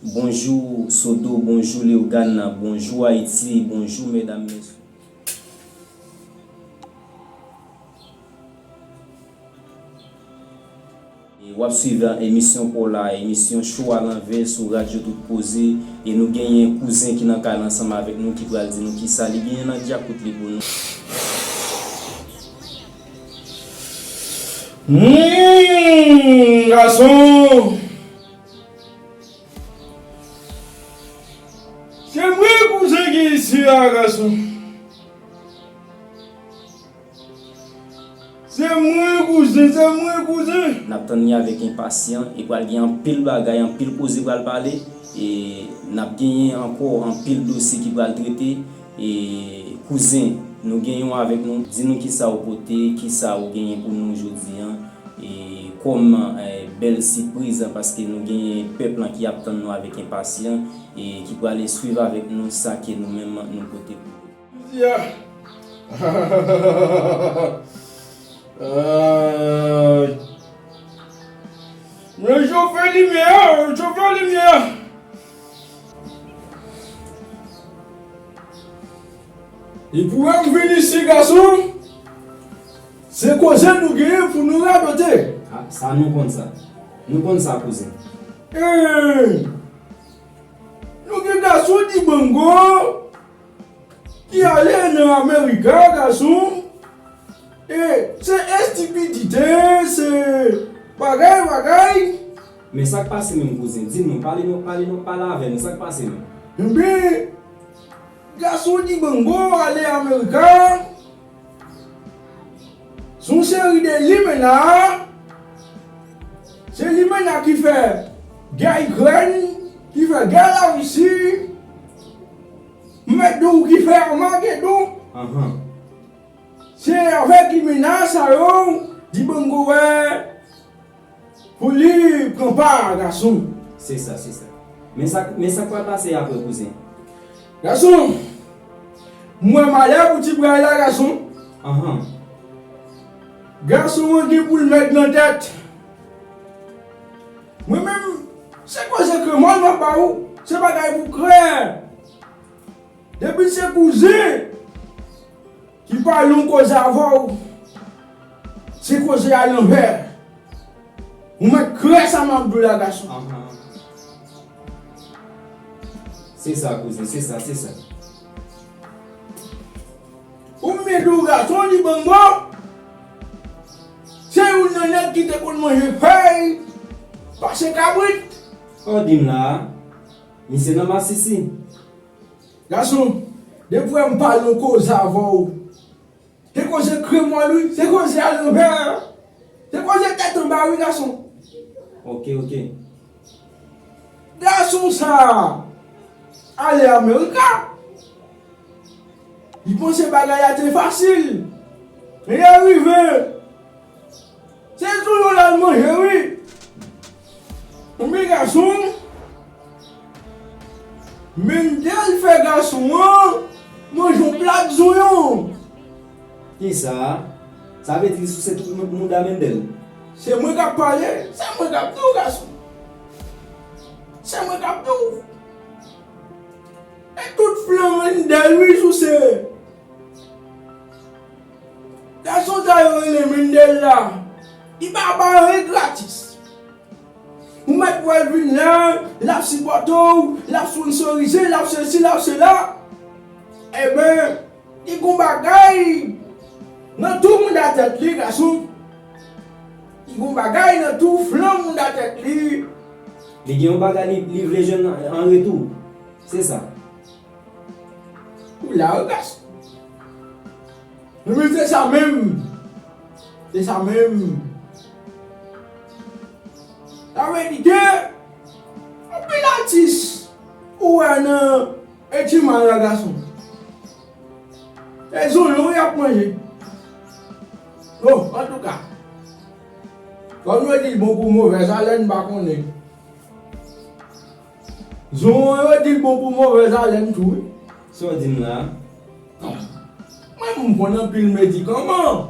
Bonjou sodo bonjou leogane bonjou ayiti bonjou medam mesye. Wap swiv emisyon paw la emisyon cho a lanvè sou radyo tout koze e nou genyen kouzen ki nan kay la ansanm avèk nou ki pral di nou kisa li genyen nan djakout li pou nou. Humm gason! Se vre kouzen ki isi a gason. Se mwen kouzen, se mwen kouzen. Nap tann li avèk enpasyan e pral gen anpil bagay, anpil koze pral pale e nap genyen ankò anpil dosye ki pral trete. E kouzen Nou gen yon avèk nou di nou kisa ou pote kisa ou genyen pou nou jodi an e kòm bèl sipriz paske nou genyen pèp lan ki ap tann nou avèk enpasyan e ki prale swiv avèk nou sa ke nou menm nou pote pou yo. Midi a Aayy Mwen chofé limyè a chofé limyè a. Li pou wè ou vin isi gason, se koze nou genyen pou nou radote. A, sa nou konn sa. Nou konn sa kouzen. Ee! Nou gen gason Dibango ki ale nan America gason, e se estipidite, se bagay bagay. Men sak pase menm kouzen? Di nou, pale nou, pale nou, pale avè nou, sak pase menm? Enben, gason Dibango ale America, son seri de limena, se limena ki fè gè Ikrèn, ki fè gè la Russie, m mèt di w ki fè Armagedon, se avèk limena sa yo Dibango wè. Pou li pran pa a gason. Se sa, se sa. Men sa, men sa k pral pase apre kouzen? Gason, M wè Maya pou ti bray la gason. Anhan. Gason an gen pou l mèg nan tèt. Mwen menm, se koze kremòl m ap ba ou, se bagay pou krè. Depi se kouzen ki pa yon koze avèw se koze a lanvè ou mèt krè sa map diw la gason. Se sa kouzen se sa se sa. Ou m vin diw gason Dibango se youn nan nèg ki te konn manje fèy pase kabrit. An dim la a misye nan masisi. Gason, depi wè m pale yon koze avè w, se koze kremòl wi, se koze alanvè, se koze tèt anba wi gason. Ok, ok. Gason sa a ale Amerika, li panse bagay la te fasil, lè l rive. Se tou yo lal manje wi. Anmweyy gason. Mendel fè gason an manje yon plat zonyon. Kisa Sa vle di li souse tout mouda Mendel. Se mwen kap pale se mwen kap diw gason se mwen kap diw e tout flanm Mendel wi souse. Gason sa yo rele Mendel la, li pa bay anyen gratis. Ou mèt wè l vin la, l ap sipòte w, l ap sponnsorize, l ap sesi, l ap sela. Enben, li gen yon bagay nan tou mouda tèt li, gason. Li gen yon bagay nan tou flanm mouda tèt li. Li gen yon bagay li vle jwenn an retou. Se sa. Ou la wi pès. Wi se sa menm. Se sa menm. Sa vle di ke anpil atis ou wè nan e ti mal la gason. Se zonyon y ap manje. Bon antouka. Kòm yo di bon kou movèz alèn m pa konnen. Zonwon yo di l bon pou movèz alèn tou wi. Sa w di m la? Mwen menm m konn anpil medikaman.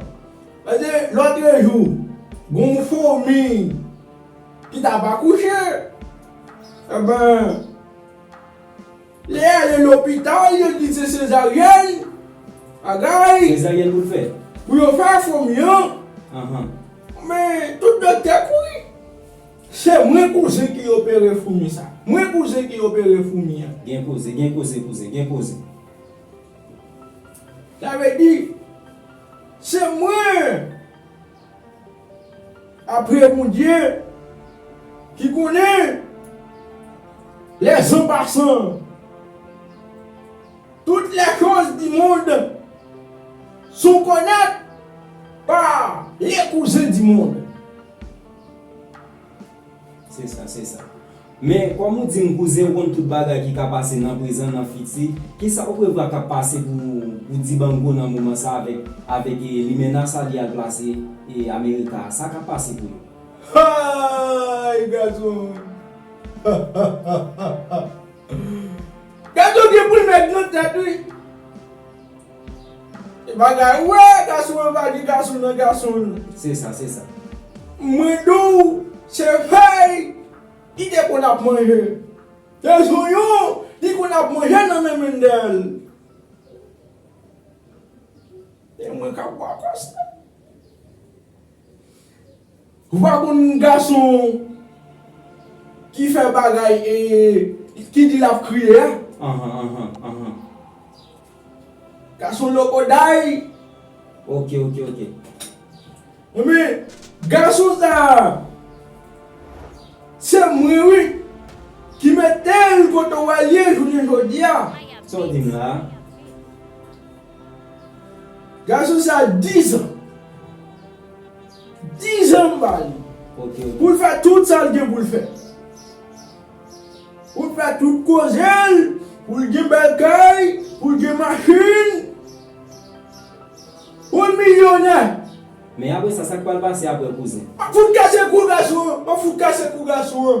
Pase lòtrejou gen yon fomi ki t ap akouche. Enben, li ale lopital yo di se sezaryèn bagay. Sezaryèn pou l fè? Pou yo fè fomi an. Men tout doktè kouri. Se mwen kouzen ki opere foumi sa. Mwen kouzen ki opere foumi an. Gen koze, gen koze kouzen, gen koze. Sa vle di, se mwen, apre Bondye, ki konnen les en passant, toutes les choses du monde sont connues par les cousins du monde. Se sa, se sa. Men, kòm ou di m kouzen ou konn tout bagay ki ka pase nan prezan, nan fiti, ki sa ou prevwa k ap pase pou Dibango nan moman sa a avèk limena sa li al plase Amerika a? Sa k ap pase pou yo? Hay! Gadon! Gadon gen pou l fè gran tèt wi! E bagay ou wè gason an pa gen gason nan gason l. Se sa se sa. Mwen di w se fèy li te konn ap manje. Se zonyon li konn ap manje nan men Mendel. E mwen k ap bwa kòs la. Vagabon gason ki fè bagay e ki di lap kriye a. Gason lokoday. Ok ok ok. Ebyen gason sa se mwen wi ki metel kote w wè l ye jounen jodi a. Sa w di m la a? Gason sa 10 ans. 10 ans m ba li. Poul fè tout sal gen poul fè. Poul fè tout kozel, poul gen bèl kay, poul gen machin. Poul milyonè. Men apre sa sak pral pase apre kouzen. Map fout kase kou gason an. Map fout kase kou gason an.